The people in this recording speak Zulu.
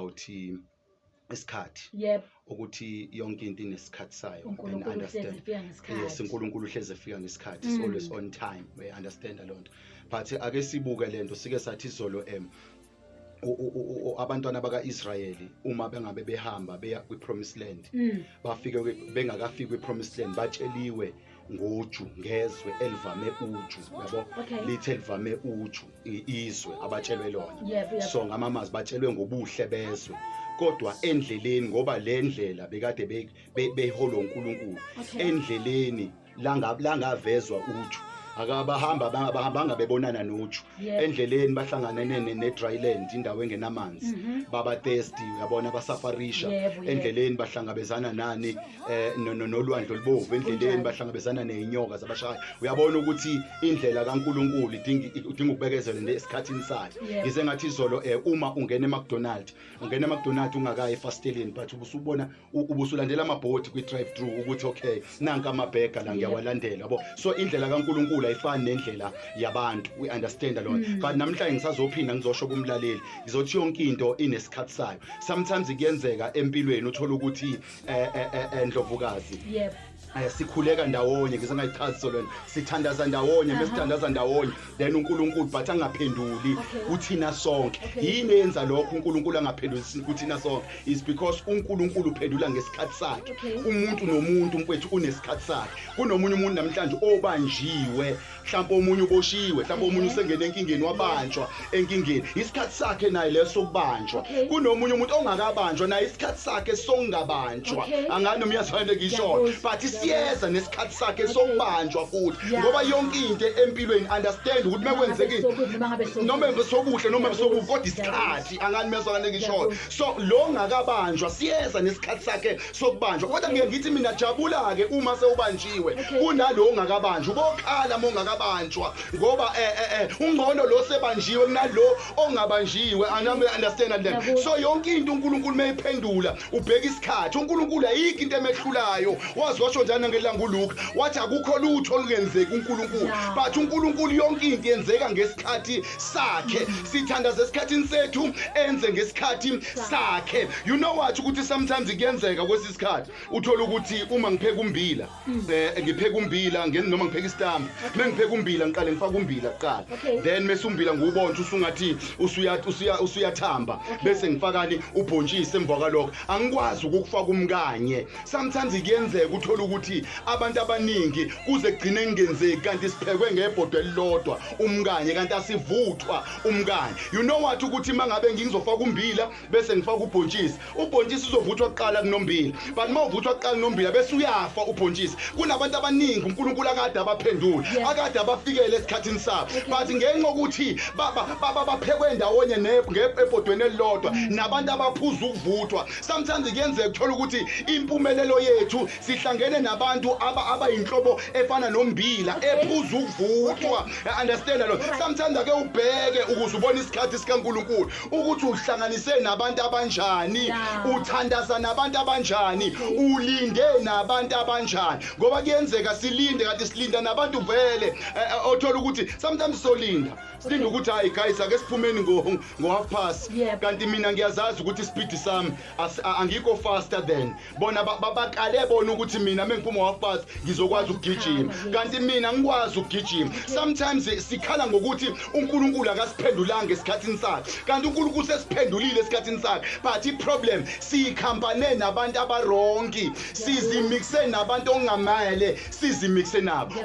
awuthi isikhathi yep ukuthi yonke into inesikhathi sayo and understand yes uNkulunkulu uhleze efika ngesikhathi mm. always on time we understand lonto but ake sibuke lento sike sathi izolo em abantwana baka-israyeli uma bengabe behamba beya kwi-promised land mm. bafike bengakafiki kwi-promised land batsheliwe ngoju ngezwe elivame uju yabo Okay. lithi elivame uju i- izwe abatshelwe lona Yebo, yebo. so ngamamazi batshelwe ngobuhle bezwe kodwa endleleni ngoba le ndlela bekade be- be- beholwa unkulunkulu Okay. endleleni langa- langavezwa uju akabahamba bangabahambanga bebonana noju Yes. endleleni bahlanganene ne- ne-dryland indawo engenamanzi Mhm. baba thirsty uyabona basafarisha Yebo, yebo. endleleni bahlangabezana nani eh, no- no- nolwandle olubovu endleleni Kunjalo. bahlangabezana ney'nyoka zabashaya uyabona ukuthi indlela kankulunkulu idinga idinga ukubekezela nje esikhathini sayo Yebo. ngize ngathi izolo um uma ungena emacdonald ungena emacdonald ungakayi efasteleni but ubusubona u- ubusulandela amabhodi kwi-drive thru ukuthi okay nanka amabhega la ngiyawalandela yabo so indlela kankulunkulu ayifani nendlela yabantu we understand lona Mm. but namhlanje ngisazophinda ngizosho kumlaleli ngizothi yonke into inesikhathi sayo sometimes kuyenzeka empilweni uthole ukuthi eh, eh, eh, eh, ndlovukazi Yebo. Eh, sikhuleka ndawonye ngize ngayichazi so lona sithandaza ndawonye bese sithandaza ndawonye then uNkulunkulu but angaphenduli kuthina sonke yini yenza lokho uNkulunkulu angaphenduli kuthina sonke is because uNkulunkulu uphendula ngesikhathi sakhe umuntu nomuntu mfethu unesikhathi sakhe kunomunye umuntu namhlanje obanjiwe mhlawumbe omunye uboshiwe mhlawumbe omunye usengene enkingeni wabanjwa enkingeni isikhathi sakhe naye leso sokubanjwa kunomunye umuntu ongakabanjwa naye isikhathi sakhe songabanjwa angani noma uyazifana ngishona but siyeza nesikhathi sakhe sokubanjwa futhi ngoba yonke into empilweni understand ukuthi mekwenzekile noma besokuhle noma besokubi kodwa isikhathi angani mesakane ngishona so lo ngakabanjwa siyeza nesikhathi sakhe sokubanjwa kodwa ngiye ngithi mina jabula-ke uma sewubanjiwe kunalo ongakabanjwa ubokhala uma ungakabanjwa ngoba um eh, eh, eh, ungcono lo sebanjiwe kunalo ongabanjiwe understand then so yonke into unkulunkulu uma ephendula ubheka isikhathi unkulunkulu ayikho into emehlulayo wazi washo njani nangelanga uluka wathi akukho lutho olungenzeki unkulunkulu but unkulunkulu yonke into yenzeka ngesikhathi sakhe mm. sithandaza esikhathini sethu enze ngesikhathi sakhe you know what ukuthi sometimes kuyenzeka kwesi sikhathi uthola ukuthi uma ngipheka umbila um ngipheka umbila ngen- noma ngipheka isitambu uma ngipheka umbila ngiqale ngifake umbila kuqala Okay. then mese umbila ngiwubontshe usungathi usuya- usuya- usuyathamba bese ngifakani ubhontshisi emva kwalokho angikwazi ukukufaka umkanye sometimes kuyenzeka uthole ukuthi abantu abaningi kuze kugcine kungenzeki kanti siphekwe ngebhodwe elilodwa umkanye kanti asivuthwa umkani you know what ukuthi mangabe ngingizofaka umbila bese ngifaka ubhontshisi ubhontshisi uzovuthwa kuqala kunombila but uma uvuthwa kuqala kunombila bese uyafa ubhontshisi kunabantu abaningi uNkulunkulu akade abaphendula akade abafikele esikhathini sabo but ngenxa ukuthi baphekwe ndawonye ebhodweni elilodwa mm. nabantu abaphuza ukuvuthwa sometimes kuyenzeka ukuthola ukuthi impumelelo yethu sihlangene nabantu aba abayinhlobo efana nombila ephuza ukuvuthwa understand lo sometimes ake ubheke ukuze ubone isikhathi sikaNkuluNkulu ukuthi uhlanganise nabantu abanjani uthandaza nabantu abanjani ulinde nabantu abanjani ngoba kuyenzeka silinde kanti silinda nabantu vele eh, eh, othola ukuthi sometimes solinda silinde ukuthi hayi guys ake siphumeni ngo ngo half past kanti mina ngiyazazi ukuthi ispeed sami angikho faster than bona babakale bona ukuthi mina mengiphuma wafazi ngizokwazi ukugijima kanti mina ngikwazi ukugijima sometimes sikhala ngokuthi uNkulunkulu akasiphendulanga esikhathini sakhe kanti uNkulunkulu sesiphendulile esikhathini sakhe but iproblem siyikhambane nabantu abarongi sizimixe nabantu ongamele sizimixe nabo